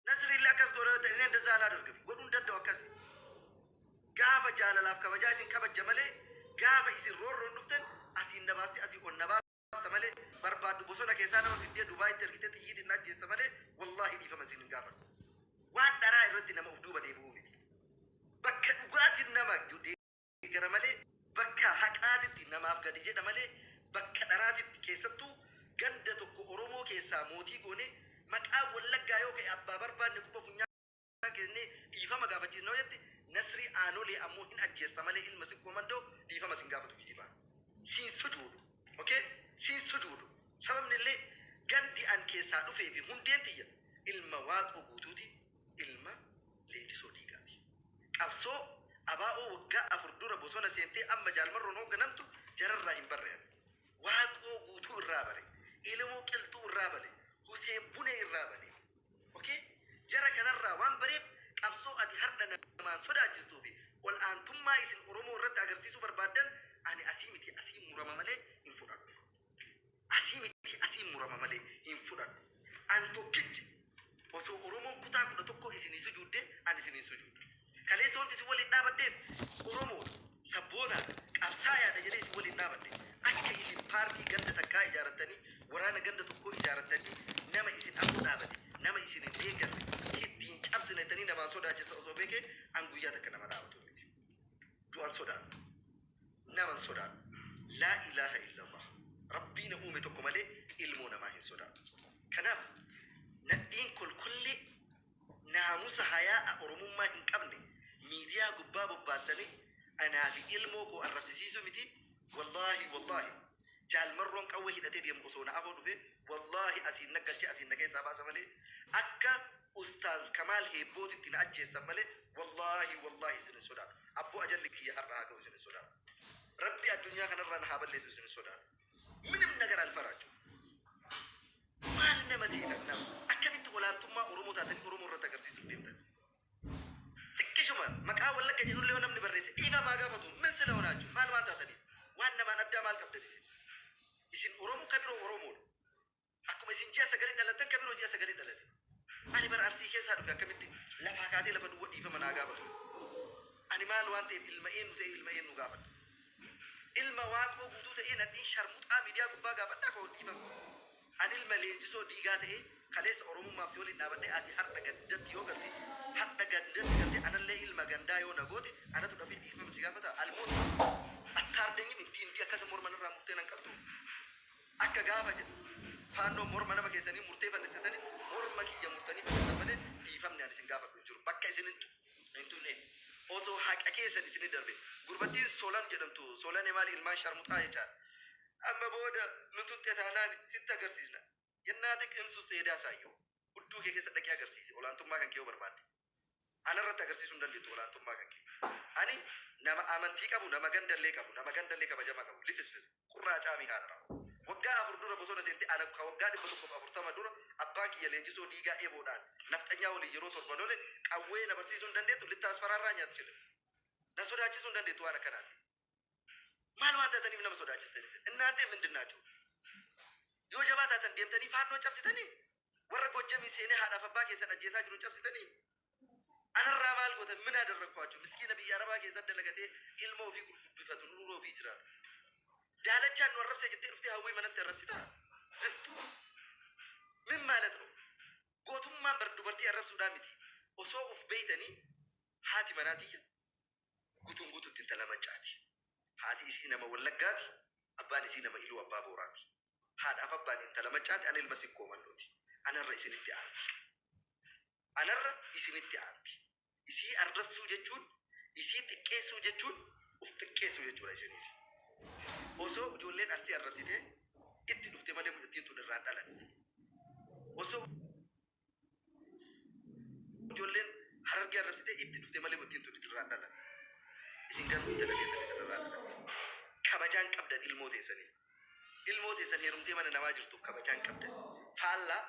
Nasriillee akkas godha yoo ta'e inni indazaa alaa dorgame godhuu hin danda'u akkasi. Gaafa jaalalaaf kabajaa isin kabajja malee gaafa isin roorroon dhuftan asiin na baasti asii ol na baasta malee barbaaddu bosona keessaa nama fiddee Dubaayitti ergitee xiyyiitiin na ajjeesta malee wallaahi dhiifama isin hin gaafadhu. Waan dharaa irratti nama of duuba deebi'uu miti. Bakka dhugaatiin nama gara malee bakka haqaatitti namaaf gadi jedha malee bakka dharaatitti keessattuu ganda tokko Oromoo keessaa mootii goone maqaa Wallaggaa yoo ka'e abbaa barbaanne quba funyaan keessne dhiifama gaafachiisna yoo jette Nasrii Aanolee ammoo hin ajjeesta malee ilma sikkoo mandoo dhiifama sin gaafatu kijibaa. Siin sujuudu. Okay? Siin sujuudu. Sababni illee gandi an keessaa dhufee fi hundeen tiyya ilma waaqoo guutuuti. ilma Leenjisoo Diigaati. Qabsoo ABO waggaa 4 dura bosona seentee amma Jaal Marroon hoogganamtu jararraa hin barre ani. Waaqoo Guutuu irraa bare. Elemoo Qilxuu irraa bale. Huseen Bunee irraa bale. Ok? Jara kanarraa waan bareef qabsoo ati hardha namaan sodaachistuu fi ol aantummaa isin Oromoo irratti agarsiisuu barbaaddan ani asii miti asiin murama malee hin fudhadhu. Asii miti asiin murama malee hin fudhadhu. An tokkicha. Osoo Oromoon kutaa kudha tokko isinii sujuudde an isiniin sujuuda. Kaleessa wanti isin waliin dhaabadheef Oromoodha, sabboonaadha, qabsaayaadha jedhee isin waliin dhaabadhe. Akka isin paartii ganda takkaa ijaarattanii, waraana ganda tokkoo ijaarattanii nama isin afoo dhaabate, nama isin hin deeggarre, itti hin cabsine jettanii namaan sodaachista osoo beekee an guyyaa takka nama dhaabatu miti. du'an sodaannu naman sodaannu laa ilaaha illallah rabbii na uume tokko malee ilmoo namaa hin sodaannu kanaaf nadhiin kolkollee naamusa hayaa'a oromummaa hin qabne miidiyaa gubbaa bobbaastanii anaa fi ilmoo koo arrabsisiisuu miti wallaahi wallaahi Jaal Marroon qawwee hidhatee deemu osoo na afoo dhufee wallaahi asiin na galche asiin na keessaa baasa malee akka Ustaaz Kamaal Heebbootitti na ajjeestan malee wallaahi wallaahi isin hin sodaadhu. Abboo ajalli kiyya har'a haa ga'u isin hin sodaadhu. Rabbi addunyaa kanarraa na haa balleessu isin hin sodaadhu. Minim nagar alfaraachuu. Maal nama seetan nama? Akkamitti olaantummaa Oromoo taatanii Oromoo irratti agarsiisuuf deemtan? Xiqqishuma maqaa wallagga jedhullee yoo namni barreesse dhiifama haa gaafatu min sila honaachu maal waan taataniif waan namaan addaa maal qabdan isin isin oromo kabiro oromoodha akkuma isin ji'a sagali dhalattan kabiro ji'a sagali dhalate ani bara arsii keessaa dhufe akkamitti lafaa kaatee lafa duwwa dhiifama naa gaafatu ani maal waan ta'eef ilma eenyu ta'e ilma eenyu gaafadha ilma waaqoo guutuu ta'ee nadhiin sharmuxaa miidiyaa gubbaa gaafadhaa koo dhiifama An ilma Leenjisoo Diigaa ta'ee kaleessa Oromummaaf si waliin dhaabadhe ati hardha gandatti yoo galte hardha gandatti galtee anallee ilma gandaa yoo na goote anatu dafee dhiifama si gaafata almost attarding him intii intii akkasa morma narraa murtee nan qaltuu akka gaafa faannoon morma nama keessanii murtee fanniste sani morma kiyya murtanii fannistan malee dhiifamni ani isin gaafadhu hin jiru bakka isin hin tu- hin tunne osoo haqa keessan isin hin darbe gurbattiin solan jedhamtu solane maali ilmaan sharmuxaa jechaa Amma booda nu tuqxe taanaan sitti agarsiisna. Yennaa xiqimsu seedaa saayyoo. Hudduu kee keessa dhaqii agarsiisi olaantummaa kan kee yoo barbaadde. Ana irratti agarsiisuu hin dandeettu olaantummaa kan kee. Ani nama amantii qabu, nama ganda illee qabu, nama ganda illee kabajama qabu, lifisfis, qurraa caamii haadha raafuu. Waggaa afur dura bosona seente ana ka waggaa 140 dura abbaan kiyya leenjisoo diigaa eboodhaan nafxanyaa waliin yeroo torba lole qawwee na barsiisuu hin dandeettu, littaas faraarraa nyaatti jedhe. Na sodaachisuu hin dandeettu waan akkanaatiif. maal waan taataniif nama sodaachistani isin innaantee mindin naachuu yoo jabaa taatan deemtanii faannoo cabsitanii warra gojjamii seenee haadhaaf abbaa keessan ajjeesaa jiru cabsitanii anarraa maal goota minaa darrakkoachu miskiina biyya arabaa keessan dalagatee ilma ofii gurgubbifatu nuura ofii jiraata daalachaan nu arrabsee jettee dhuftee hawwii manatti arrabsitaa ziftu min maalat nu gootummaan bar dubartii arrabsuudhaa miti osoo uf beeytanii haati manaa tiyya Guutuun guututti intala Maccaati. Haati isii nama Wallaggaati, abbaan isii nama Iluu Abbaa Booraati. Haadhaaf abbaan intala Maccaati, ani ilma Sikkoo Mannooti. Anarra isinitti aanti. Anarra isinitti aanti. Isii arrabsuu jechuun, isii xiqqeessuu jechuun uf xiqqeessuu jechuudha isiniif. Osoo ijoolleen Arsii arrabsitee itti dhufte malee mucattiin tun irraa hin dhalanne. Osoo. Ijoolleen harargee arrabsitee itti dhufte malee mottiin tun itirraa hin dhalan. Isin garuu intala teessan isin irraa dhalan. Kabajaan qabdan ilmoo teessanii. Ilmoo teessan heerumtee mana namaa jirtuuf kabajaan qabdan. Faallaa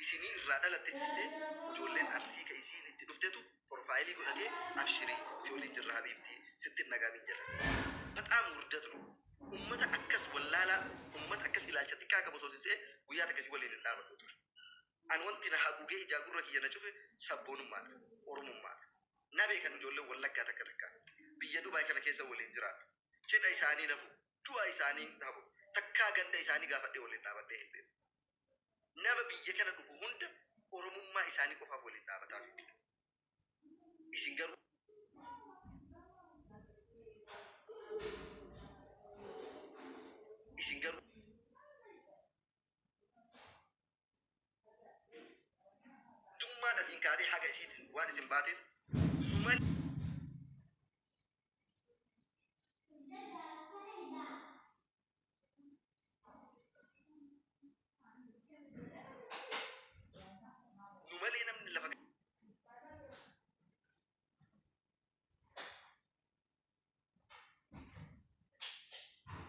isinii irraa dhalatte dhiistee ijoolleen arsii ka isiin itti dhuftetu porfaayilii godhatee abshirii si waliin jirra habiibtii sitti hin dhagaamiin jedhan. Baxaam wurdat nu. Ummata akkas wallaalaa ummata akkas ilaalcha xiqqaa qabu soosisee guyyaa takka si waliin hin dhaabadhu ture. An wanti na haguugee ijaa gurra kiyya na cufe sabboonummaadha. Oromummaadha. Na beekan ijoolleen Wallaggaa takka takkaa. Biyya Dubai kana keessa waliin jiraadha. Cidha isaanii hin hafu. Du'a isaanii hin hafu. Takkaa ganda isaanii gaafadhee waliin dhaabadhee hin beeku. Nama biyya kana dhufu hunda Oromummaa isaanii qofaaf waliin dhaabataafii ture. Isin garuu. Isin garuu. Tummaan asiin kaatee haga isiitiin waan isin baateef numan nu malee namni lafa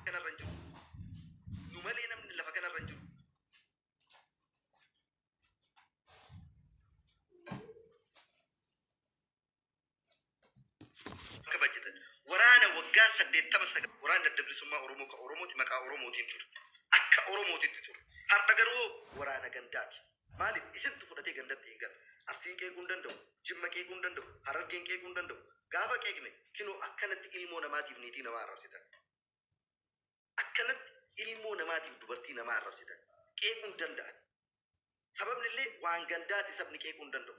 kanarra hin jiru. Nu malee namni lafa kanarra hin jiru. Akka bajjetan. Waraana waggaa saddeettama sagal waraanni adda bilisummaa Oromoo ka Oromooti maqaa Oromootiin ture. Akka Oromootitti ture. Har'a garuu waraana gandaati. Maaliif? Isintu fudhatee gandatti hin galu. Arsiin qeequu hin danda'u, Jimma qeequu hin danda'u, Harargeen qeequu hin danda'u. Gaafa qeeqne kinoo akkanatti ilmoo namaatiif niitii namaa arrabsitan. Akkanatti ilmoo namaatiif dubartii namaa arrabsitan. Qeequu hin danda'an. Sababni illee waan gandaati sabni qeequu hin danda'u.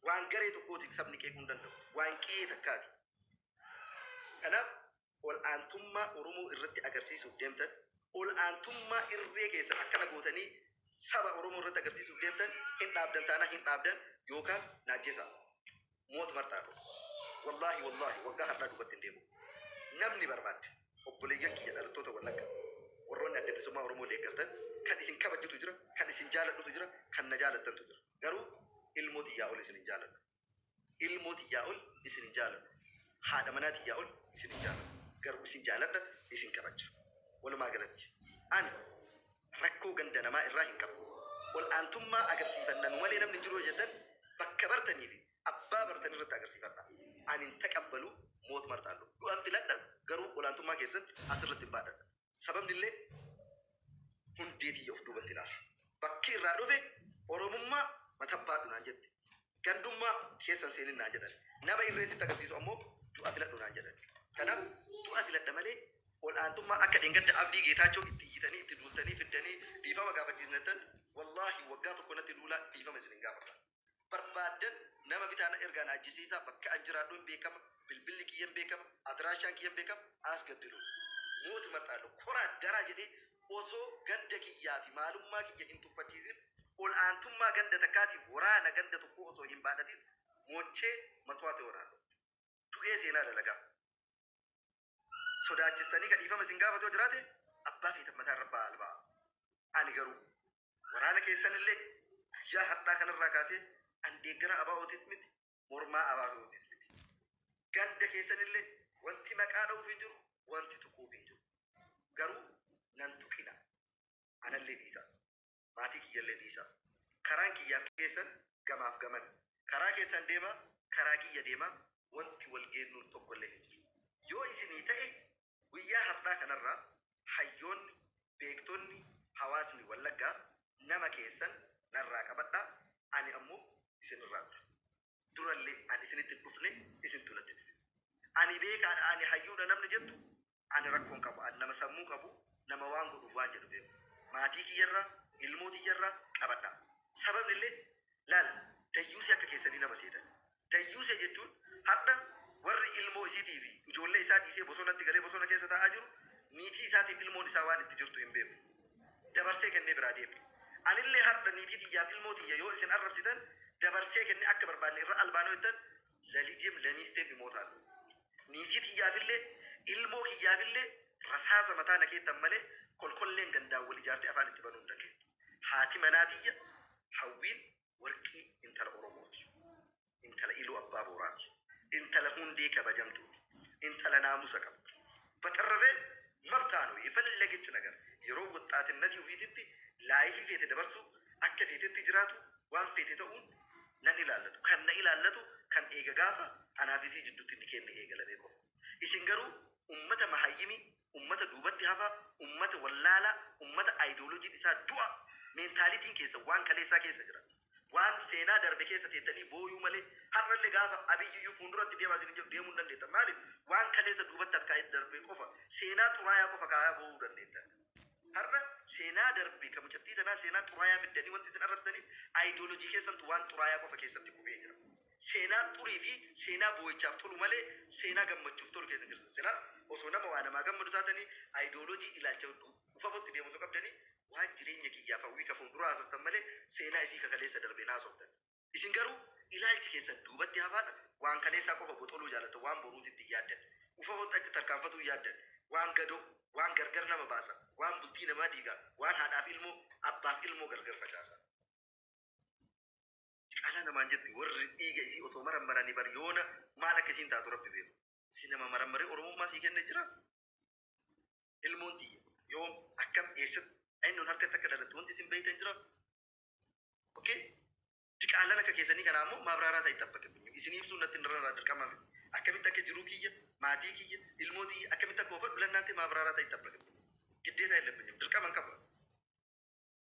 Waan garee tokkooti sabni qeequu hin danda'u. Waan qe'ee takkaati. Kanaaf ol aantummaa Oromoo irratti agarsiisuuf deemtan, ol aantummaa irree keessan akkana gootanii saba Oromoo irratti agarsiisuuf deemtan hin dhaabdan taanaan hin dhaabdan yookaan na ajjeesaa. Moot martaa kun. Wallaahi wallaahi waggaa har'aa duubatti hin deemu. Namni barbaadde obboleeyyan kiyya dhalattoota Wallagga warroonni adda bilisummaa Oromoo deeggartan kan isin kabajutu jira, kan isin jaaladhutu jira, kan na jaalattantu jira. Garuu ilmoo tiyyaa ol isin hin jaaladhu. ilmoo tiyyaa ol isin hin jaaladhu. Haadha manaa tiyyaa ol isin hin jaaladhu. Garuu isin jaaladha, isin kabaja. Walumaa galatti ani rakkoo ganda namaa irraa hin qabu. Ol aantummaa agarsiifanna nu malee namni hin jiru yoo jettan bakka bartanii fi abbaa bartan irratti agarsiifadha. Ani hin taqabbalu moot marxaallo. Du'an filadha garuu olaantummaa keessan as irratti hin baadhadha. Sababnillee hundee tiyya of duubatti ilaala. Bakki irraa dhufe Oromummaa matabbaadhu naan jette. Gandummaa keessa hin seenin naan jedhan. Nama irree sitti agarsiisu ammoo du'a filadhu naan jedhan. Kanaaf du'a filadha malee ol'aantummaa akka dheengadda Abdii Geetaachoo itti iyyitanii, itti duultanii, fiddanii dhiifama gaafachiisnettan wallaahi waggaa tokko natti duulaa dhiifama isin hin gaafadha. barbaaddan nama bitaa na ergaa na ajjesiisaa bakka an jiraadhu hin beekama bilbilli kiyya hin beekama adiraashaan kiyya hin beekama aasgaddilu mooti marxaadho koraa daraa jedhee osoo ganda kiyyaa fi maalummaa kiyya hin tuffachiisin ol aantummaa ganda takkaatiif waraana ganda tokkoo osoo hin baadhatin moochee maswaata yoonaallo du'ee seenaa dalagaa sodaachistanii ka dhiifama isin gaafatu yoo jiraate abbaa feetan mataa irra ba'aa albaa ani garuu Waraana keessanillee guyyaa har'aa kanarraa kaasee an deeggara abaa'ootis miti mormaa abaa'ootis miti. Ganda keessanillee wanti maqaa dha'uuf hin jiru wanti tuquuf hin jiru. Garuu nan tuqina. Anallee dhiisa. Maatii kiyyallee dhiisa. Karaan kiyyaaf keessan gamaaf gaman. Karaa keessan deema karaa kiyya deema wanti wal geennuun tokkollee hin jiru. Yoo isinii ta'e Guyyaa hardhaa kanarraa hayyoonni, beektonni, hawaasni Wallaggaa nama keessan narraa qabadhaa ani ammoo isin irraa dhura. Durallee ani isinitti hin dhufne isintu natti dhufe. Ani beekaadha ani hayyuudha namni jettu ani rakkoo hin qabu ani nama sammuu qabu nama waan godhuuf waan jedhu beeku. Maatii kiyyarraa, ilmoo tiyyarraa qabadhaa. Sababnillee laal dayyuusii akka keessanii nama seetanii Dayyuusee jechuun hardha warri ilmoo isiitii fi ijoollee isaa dhiisee bosonatti galee bosona keessa taa'aa jiru niitii isaatiif ilmoon isaa waan itti jirtu hin beeku. Dabarsee kennee biraa deeme. Anillee hardha niitii tiyyaa fi ilmoo tiyya yoo isin arrabsitan dabarsee kennee akka barbaadne irra albaanoo jettan lalijeem lamiisteem imootaan dhumu. Niitii tiyyaafillee ilmoo kiyyaafillee rasaasa mataa na keettan malee kolkolleen gandaan wal ijaartee afaan itti banuu hin dandeettu. Haati manaa tiyya Hawwiin Warqii intala Oromooti. Intala Iluu Abbaa Booraati. Intala hundee kabajamtuuti. Intala naamusa qabdu. Batarrafe mabtaa no yefellagech nagar yeroo woxxaatinnatii ofiititti laayifii feete dabarsu akka feetetti jiraatu waan feete ta'uun nan ilaallatu. Kan na ilaallatu kan eega gaafa anaafi isii jiddutti inni keenne eegalamee qofa. Isin garuu ummata mahayyimi ummata duubatti hafaa, ummata wallaalaa, ummata ideologiin isaa du'a, mentality'n keessan waan kaleessaa keessa jira. Waan seenaa darbe keessa teettanii booyuu malee har'alle gaafa Abiy iyyuu fuunduratti deemaa isinin jedhu deemuu hin dandeettan. Maaliif? Waan kaleessa duubatti harkaa'ee darbe qofa, seenaa xuraayaa qofa kaa'aa boo'uu dandeettan. Har'a seenaa darbe ka mucattii tanaa seenaa xuraayaa fiddanii wanti isin arrabsitaniif ideology keessantu waan xuraayaa qofa keessatti kufee jira. Seenaa xurii fi seenaa boo'ichaaf tolu malee seenaa gammachuuf tolu keessa hin jirtan. Silaa osoo nama waa namaa gammadu taatanii ideology ilaalcha ufafootti deemu osoo qabdanii waan jireenya kiyyaaf hawwii ka fuunduraa haasoftan malee seenaa isii ka kaleessa darbe hin haasoftan. Isin garuu ilaalchi keessan duubatti hafaadha, waan kaleessaa qofa boxoluu jaalattan, waan boruutitti hin yaaddan. Ufafootti achi tarkaanfatuu hin yaaddan. Waan gadoo, waan gargar nama baasa, waan bultii namaa diiga, waan haadhaaf ilmoo, abbaaf ilmoo gargar facaasa. Diqaalaa namaan jetti warri dhiiga isii osoo marammaranii bar yoona maal akka isiin taatu rabbi beeku. Si nama marammaree oromummaa sii kenne jira. Ilmoon tiyya yoom akkam eessatti eenyuun harkatti akka dhalatte wanti isin beektan jira. Okay? Diqaalaan akka keessanii kanaa immoo maabraaraa ta'i xabbaqabinyu. Isin ibsuun natti irraa dirqama miti. Akkamitti akka jiruu kiyya, maatii kiyya, ilmoo tiyya akkamitti akka oofadhu lannaantee maabraaraa ta'i xabbaqabinyu. Giddeetaa hin labbinyu. Dirqama hin qabu.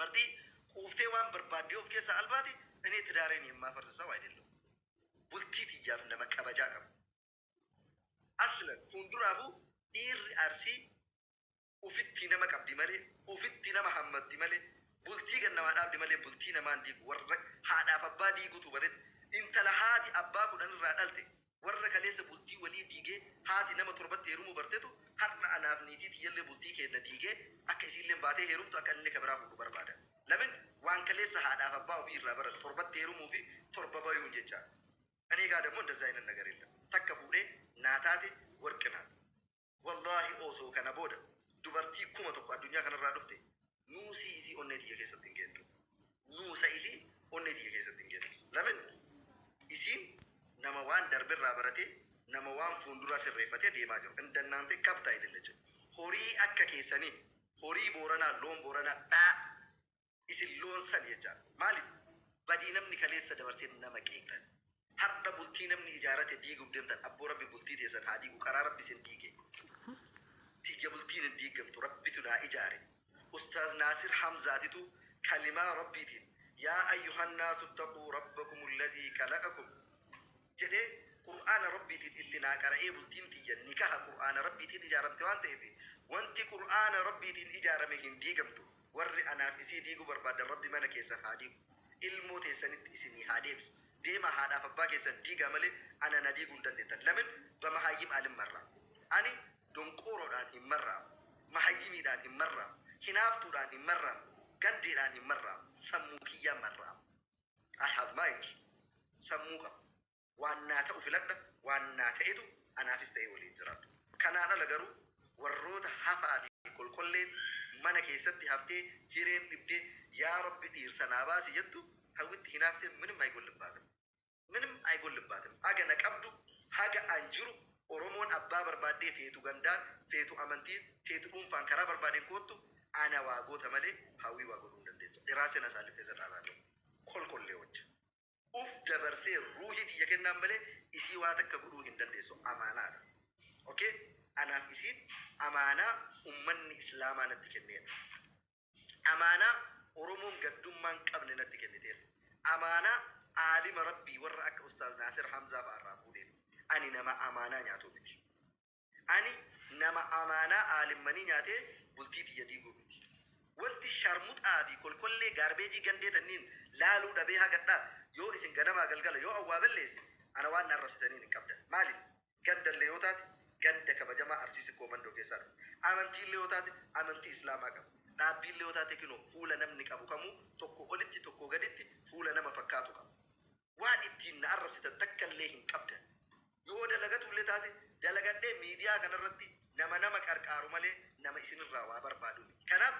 Martii quuftee waan barbaaddee of keessaa albaati inee tidaareen yemmaafars saw aydellam. Bultii tiyyaaf nama kabajaa qabu. Aslan fuunduraafuu dhiirri Arsii ufittii nama qabdi malee ufittii nama hammatti malee bultii gad namaa dhaabdi malee bultii namaa hin diigu warra haadhaaf abbaa diigutuu baretti intala haati abbaa kudhan irraa dhalte Warra kaleessa bultii walii diigee haati nama torbatti heerumuu bartetu har'a anaaf niitii tiyyallee bultii keenna diigee akka isiilleen baatee heerumtu akka anillee ka biraa fuudhu barbaada. Lamin waan kaleessa haadhaaf abbaa ofii irraa baran torbatti heerumuu fi torba bayuun jechaa dha. Ani egaa dammo indazza ayinat nagar yellam. Takka fuudhee naa taate warqi naat. Wallaahi oosoo kana booda dubartii kuma tokko addunyaa kanarraa dhufte nuusii isii onnee tiyya keessatti hin geettu. Nuusa isii onnee tiyya keessatti hin geettu. Lamin isiin nama waan darberraa baratee nama waan fuunduraa sirreeffatee deemaa jiru. Indannaante kabta idilleche. Horii akka keessanii horii booranaa loon booranaa dhaa. isin loon san jechaan maaliif badii namni kaleessa dabarsee nama qeeqxan hardha bultii namni ijaarate diiguuf deemtan abboo rabbi bultii teessan haa diigu karaa rabbi isin diige tiyya bultiin hin diigamtu rabbitu naa ijaare ustaaz naasir hamzaatitu kalimaa rabbiitiin yaa ayyuhannaasu taquu rabbakum allazii kalaqakum jedhee Qur'aana Rabbiitiin itti naa qara'ee bultiin tiyya nikaha Qur'aana Rabbiitiin ijaaramte waan ta'eef wanti Qur'aana Rabbiitiin ijaarame hin diigamtu warri anaaf isii diiguu barbaaddan Rabbi mana keessan haa diigu ilmoo teessanitti isinii haa deebisu deemaa haadhaaf abbaa keessan diigaa malee ana na diiguu hin dandeettan lamin bamahayyim alin marraa ani donqooroodhaan hin marraamu mahayyimiidhaan hin marraamu hinaaftuudhaan hin marraamu gandeedhaan hin marraamu sammuu kiyyaan marraama. I have mind. Sammuu qaba. Waan naa ta'u filadha. Waan naa ta'etu anaafis ta'e waliin jiraadha. Kanaan ala garuu warroota hafaa fi kolkolleen mana keessatti haftee hireen dhibdee yaa rabbi dhiirsa naa baasi jettu hawwitti hinaaftee minim aygollibbaatm. Minim aygollibbaatm. Haga na qabdu haga an jiru Oromoon abbaa barbaaddee feetu gandaan, feetu amantiin, feetu dhuunfaan karaa barbaadeen koottu ana waa goota malee Hawwii waa godhuu hin dandeessu. Dhiraa sena saallittee saxaaxaa ta'u. Kolkolleewwcha. Uf dabarsee ruuhii tiyya kennaan malee isii waa takka godhuu hin dandeessu. Amaanaa dha. Ok? Anaaf isiin amaanaa ummanni Islaamaa natti kenneedha. Amaanaa Oromoon gaddummaa hin qabne natti kenniteerta. Amaanaa aalima Rabbii warra akka Ustaaz Naasir Hamzaa fa'a irraa fuudheef. Ani nama amaanaa nyaatu miti. Ani nama amaanaa aalimmanii nyaatee bultii tiyya diiguu miti. Wanti sharmuxaa fi kolkollee gaarbeejii gandee tanniin laaluu dhabee hagadhaa yoo isin ganamaa galgala yoo awwaa balleesse ana waan na arrabsitaniin hin qabdan. Maaliif? Gandallee yoo taate ganda kabajamaa Arsii Sikkoo Mandoo keessaa dhufe. Amantiillee yoo taate amantii Islaamaa qaba. Dhaabbiillee yoo taate kinoo fuula namni qabu kamuu tokko olitti tokkoo gaditti fuula nama fakkaatu qaba. Waan ittiin na arrabsitan takkallee hin qabdan. Yoo dalagatuullee taate dalagadhee miidiyaa kanarratti nama nama qarqaaru malee nama isinirraa waa barbaadu miti. Kanaaf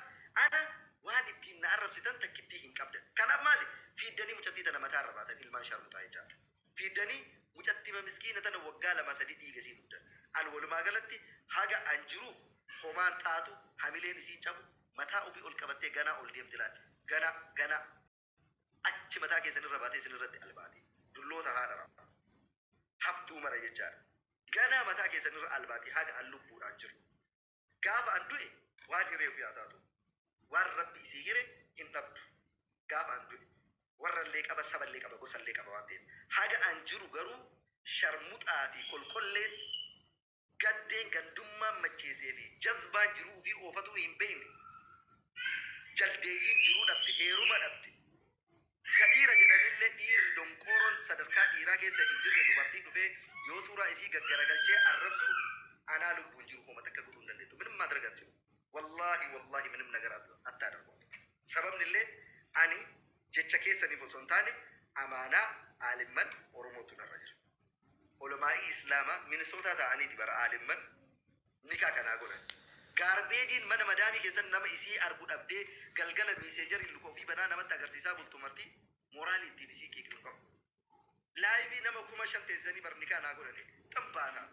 ana waan ittiin na arrabsitan takkittii hin qabdan. Kanaaf maali fiiddanii mucattii tana mataarra baatan ilmaan sharmuxaa jechaadha. Fiddani mucattima miskina tana waggaa lama sadi dhiiga isii dhugda an walumaa galatti haga an jiruuf homaan taatu hamileen isiin cabu mataa ofii ol qabattee ganaa ol deemti laal ganaa ganaa achi mataa keessan irra baatee isin irratti albaati dulloota haadha raabbu haftuu mara jechaadha ganaa mataa keessan irra albaati haga an lubbuudhaan jiru. Gaafa an du'e waan hiree ofii haa taatu. Waan Rabbi isii hire hin dhabdu. Gaafa an du'e warrallee qaba, saballee qaba, gosallee qaba waan ta'eef. Haga an jiru garuu sharmuxaa fi kolkolleen, gandeen gandummaan macheesee fi jazbaan jiruu ufii oofatuu hin beeyne, jaldeeyyiin jiruu dhabde, heeruma dhabde, Ka dhiira jedhanille dhiirri donqooroon sadarkaa dhiiraa keessa hin jirre dubartii dhufee yoo suuraa isii gaggaragalchee arrabsu anaa lubbuun jiru homa takka godhuu hin dandeettu minim maadrag atsium wallaahi wallaahi minim nagar attadargum sababnillee ani jecha keessaniif osoo hin taane amaanaa aalimman oromootu narra jira olamaa'ii islaamaa minisootaa taa'aniiti bara aalimman Nikaa kanaa godhan. Gaarbeejiin mana madaamii keessatti nama isii argu dhabdee galgala miiseejariin luka ofii banaa namatti agarsiisaa bultu marti mooraalii ittiin isii qiiqnu hin qabnu. Laayivii nama kuma shan teessisanii bar nikaa naa godhani tan baata.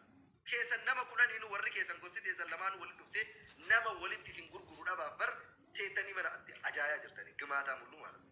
Keessan nama kudhaniinu warri keessan gosti teessan lamaanuu walitti dhuftee nama walitti isin gurguru dhabaaf bar teettanii mana atti ajaayaa jirtani gimaataa mul'uu maalamni.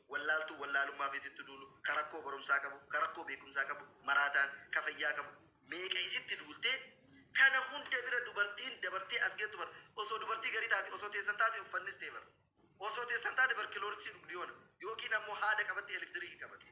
wallaaltuu wallaalummaaf isitti duulu, ka rakkoo barumsaa qabu, ka rakkoo beekumsaa qabu, maraataan, ka fayyaa qabu, meeqa isitti duultee, kana hunda bira dubartiin dabartee as geettu bar osoo dubartii garii taate osoo teessan taate uffannis ta'e bar osoo teessan taate bar kilooriksii dhugdi yoona yookiin ammoo haada qabatti elektiriki qabatte.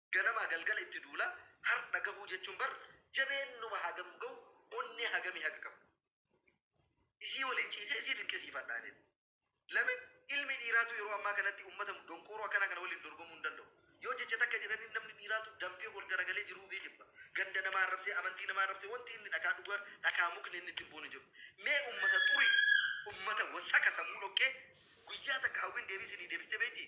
Ganamaa galgala itti duula hardha gahuu jechuun bar jabeennuma hagam gahu onnee hagamii haga qabu isii waliin ciisee isii dinqisiifadha anin. Lamin ilmi dhiiraatuu yeroo ammaa kanatti ummata donqooroo akkanaa kana waliin dorgomuu hin danda'u. Yoo jecha takka jedhaniin namni dhiiraatuu danfee ol garagalee jiruu ufii jibba. Ganda namaa arrabsee, amantii namaa arrabsee wanti inni dhakaa dhuga dhakaa mukni inni itti hin buune hin jiru. Mee ummata xurii, ummata wasaka sammuu dhoqqee guyyaa takka hawwiin deebii isinii deebistee beeytii?